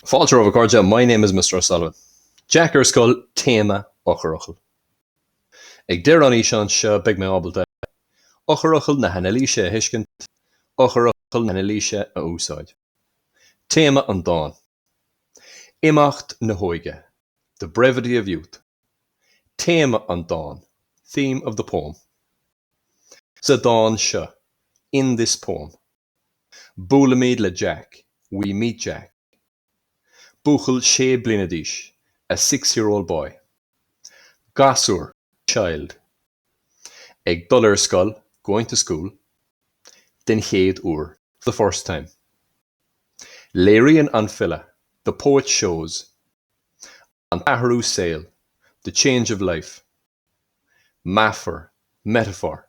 Fáilte romhaibh, a chairde, My name is Mr O'Sullivan. Jack ar scoil, téama, eochairfhocail. Ag deireadh an fhíseáin seo beidh mé ábalta, Eochairfhocail na hanailíse a thuiscint, Eochairfhocail na hanailíse a úsáid. Téama an dáin, Imeacht na hóige, The brevity of youth. Téama an dáin, Theme of the poem. Sa dán seo, In this poem. Buailimid le Jack, We meet Jack. Buachaill sé bliana d'aois, a six-year-old boy. Gasúr, child. Ag dul ar scoil, going to school. Den chéad uair, for the first time. Léiríonn an file, the poet shows. An t-athrú saoil, the change of life. Meafar, metaphor.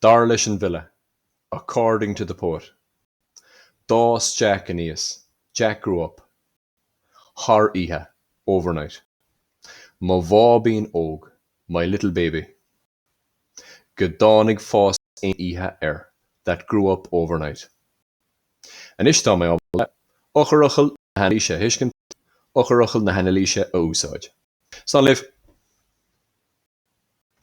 Dar leis an bhfile, 'According to the poet', d'fhás Jack aníos, Jack grew up, thar oíche, overnight. Mo bháibín óg, my little baby. Go dtáinig fás aon oíche air, that grew up overnight. Anois tá mé ábalta eochairfhocail na hanailíse a thuiscint, eochairfhocail na hanailíse a úsáid. Slán libh!